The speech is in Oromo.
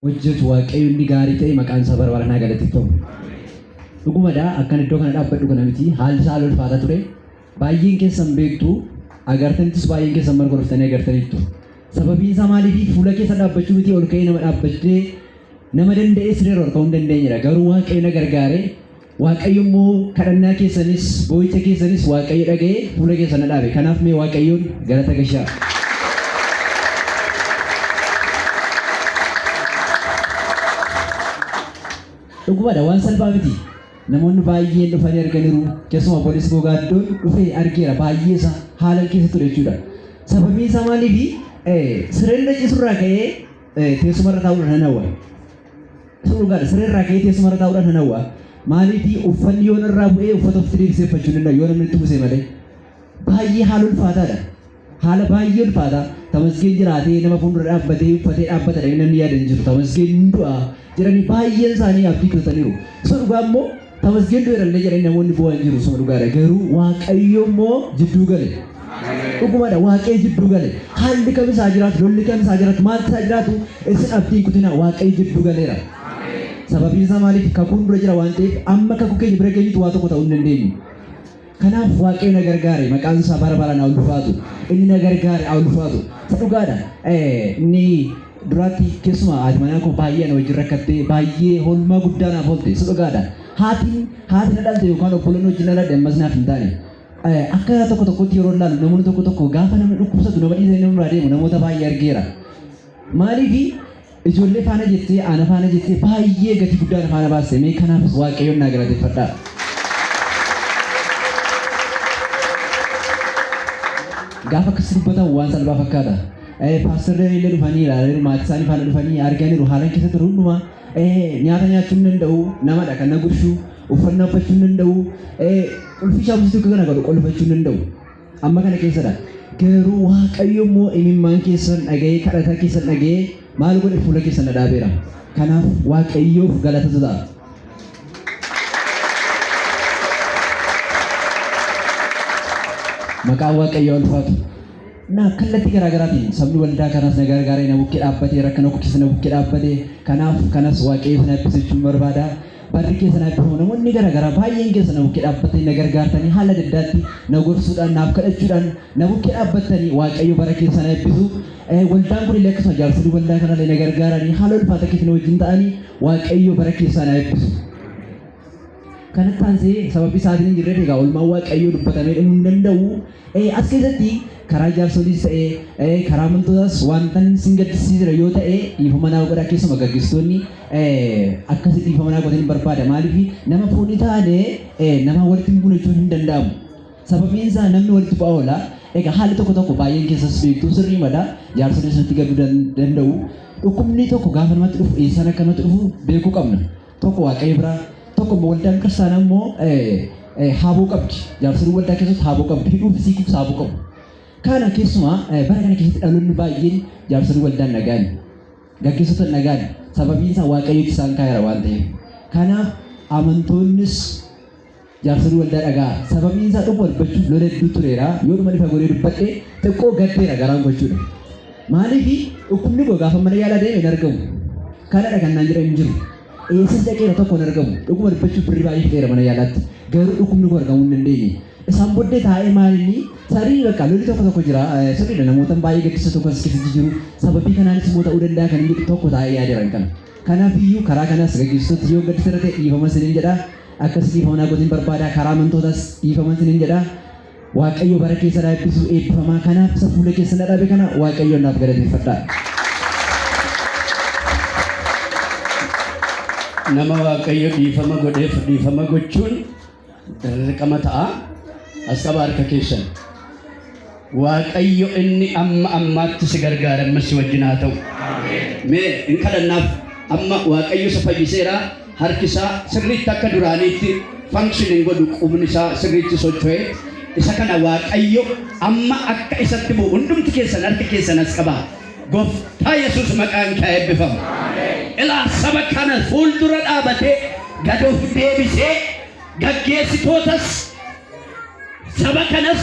hojjetu waaqayyo inni gaarii ta'e maqaan isaa bara baranaa galateeffamu. Dhugumadha akkan iddoo kana dhaabbadhu kana miti haalli isaa haala ulfaataa ture. Baay'een keessan beektu agartanittis baay'een keessan marga dhuftanii agartaniittu. Sababiin isaa maaliif fuula keessa dhaabbachuu miti ol ka'ee nama dhaabbachee nama danda'ee siree irra ol ka'uu hin dandeenyedha. Garuu waaqayyo na gargaaree Waaqayyo immoo kadhannaa keessanis, boo'icha keessanis Waaqayyo dhaga'ee fuula keessan na dhaabe. Kanaaf mee Waaqayyoon galata gashaa. Dhugumadha waan salphaa miti. Namoonni baay'een dhufanii arganiiru. Keessumaa obboleessi koo gaaddoon dhufee argeera baay'ee isaa haalan keessa ture jechuudha. Sababiin isaa maaliifi? Sireen irra ciisurraa ka'ee teessumarra taa'uudha nan hawwa. Sun dhugaadha. Siree irraa ka'ee teessuma irra taa'uudhaan nan hawwa. Maaliifi uffanni yoo narraa bu'ee uffata ofitti deebisee uffachuu hin danda'u yoo namni itti uwwisee malee. Baay'ee haala ulfaataadha. Haala baay'ee ulfaataa. Tamasgeen jiraatee nama fuuldura dhaabbatee uffatee dhaabbata jedhanii namni yaada hin jiru. Tamasgeen hin du'a jedhanii baay'een isaanii abdii kutataniiru. Isa dhugaa immoo Tamasgeen du'eerallee jedhanii namoonni boo'an jiru suma dhugaadha garuu waaqayyo immoo jidduu gale. Dhugumadha waaqayyo jidduu gale. Haalli kam isaa jiraatu lolli kam isaa jiraatu maaltu isaa jiraatu isin abdiin kutina waaqayyo jidduu galeera. Sababiin isaa maaliif kakuun dura jira waan ta'eef amma kakuu keenya bira geenyutu waa tokko ta'uu hin dandeenyu. Kanaaf Waaqayyo na gargaare, maqaan isaa bara baraan haa ulfaatu. Inni na gargaare haa ulfaatu. Isa dhugaadha. Inni duraatti keessumaa haati manaa koo baay'ee ana wajjin rakkattee baay'ee hoolmaa guddaa naaf oolte. Isa dhugaadha. Haatiin haati na dhalte yookaan obboleen wajjin na dhalte ammas naaf hin taane. Akka tokko tokkotti yeroo ilaalu namoonni tokko tokko gaafa namni dhukkubsatu nama dhiisanii nama biraa deemu namoota baay'ee argeera. Maaliif Ijoollee faana jettee ana faana jettee baay'ee gati guddaa na faana baaste mee kanaafis waaqayyoon naa galateeffadhaa. Gaafa akkas dubbatan waan salphaa fakkaata. Paastar Danee illee dhufanii ilaalaniiru maatii isaanii faana dhufanii arganiiru haalan keessa ture hundumaa nyaata nyaachuu hin danda'u namadha kan na gurshu uffannaa uffachuu hin danda'u qulfii shaabusitu kana godhu qolfachuu hin danda'u. Amma kana keessadha. Garuu Waaqayyo immoo imimmaan keessan dhaga'ee kadhataa keessan dhaga'ee maal godhe fuula keessan dhadhaabeera. Kanaaf Waaqayyoof galatatu ta'a. Maqaan Waaqayyoo ulfaatu. Na kallattii garaa garaatiin sabni waldaa kanas na gargaaree na bukkee dhaabbatee rakkina koo keessa na bukkee dhaabbatee kanaaf kanas Waaqayyo sana eebbisu jechuun barbaada. Barri keessa na eebbifamu. Namoonni gara garaa baay'een keessa na bukkee dhaabbattanii na gargaartanii haala adda addaatti na gorsuudhaan naaf kadhachuudhaan na bukkee dhaabbattanii Waaqayyo bara keessa na eebbisu. Eh, Waldaan kun illee akkasuma jaarsolii waldaa kana illee na gargaaranii haala ulfaata keessa na wajjin ta'anii Waaqayyo bara keessaa na eebbisu. Kanatti aansee sababii isaatiin hin jirreef egaa oolmaan Waaqayyoo dubbatamee dhumuu hin danda'u. As keessatti karaa jaarsoliis ta'ee karaa amantootaas wantan sin gaddisiisee jira yoo ta'e dhiifama naaf godhaa keessuma gaggeessitoonni akkasi dhiifama naaf godhanii barbaada maaliif nama foon hin taane nama walitti hin buune jechuun hin danda'amu. Sababiin isaa namni walitti bu'aa oola. Egaa haalli tokko tokko baay'een keessas beektuu sirrii mada jaarsoliis nutti gadduu danda'u. Dhukkubni tokko gaafa namatti dhufu eessaan akka namatti dhufu beekuu qabna. Tokko Waaqayyo bira, tokko immoo waldaan kiristaanaa immoo haaboo qabdi. Jaarsoliin waldaa keessatti haaboo qabdi. Hidhuu fi siikuuf haaboo qabu. Kana keessumaa bara kana keessatti dhaloonni baay'een jaarsolii waldaan nagaan gaggeessota nagaan sababiin isaa waaqayyotti isaan kaayara waan ta'eef. Kanaaf amantoonnis Jaarsoliin waldaa dhaga'aa. Sababiin isaa dhuguma dubbachuuf lola hedduu tureera. Yooduman ifa godhee dubbadhe xiqqoo gaddeera garaan koo jechuudha. Maaliif dhukkubni koo gaafa mana yaalaa deeme hin argamu. Kanadha kan naan jedhan hin jiru. Eessas dhaqeera tokko hin argamu. Dhuguma dubbachuuf birrii baay'ee fixeera mana yaalaatti. Garuu dhukkubni koo argamuu hin dandeenye. Isaan booddee taa'ee maalinni sarii bakka lolli tokko tokko jira. Eh, Sirriidha namootan baay'ee gaddisa tokko as keessatti jiru. Sababii kanaanis immoo ta'uu danda'a kan inni jedhu tokko taa'ee yaadeera kan kana. Kanaaf iyyuu karaa kanaas gaggeessitoota yoo gaddisa irra ta'e dhiifama isiniin jedha. Akkas dhiifama naa godhin barbaada karaa amantootaas dhiifama isinin jedha waaqayyo bara keessan haa eebbisu eebbifamaa kanaaf isa fuula keessa na dhaabe kana waaqayyoon naaf galateeffadhaa. Nama waaqayyo dhiifama godheef dhiifama gochuun dirqama ta'a. Asxaba harka keessan. Waaqayyo inni amma ammaatti si gargaare ammas si wajjin haa ta'u. Mee hin kadhannaaf amma Waaqayyo isa fayyiseera harki isaa sirriitti akka duraaniitti function hin godhu qubni isaa sirriitti socho'e isa kana Waaqayyo amma akka isatti bu'u hundumti keessan harki keessan as qaba. Gooftaa Yesuus maqaan kee haa eebbifamu. Ilaa saba kana fuuldura dhaabatee gad of deebisee gaggeessitootas saba kanas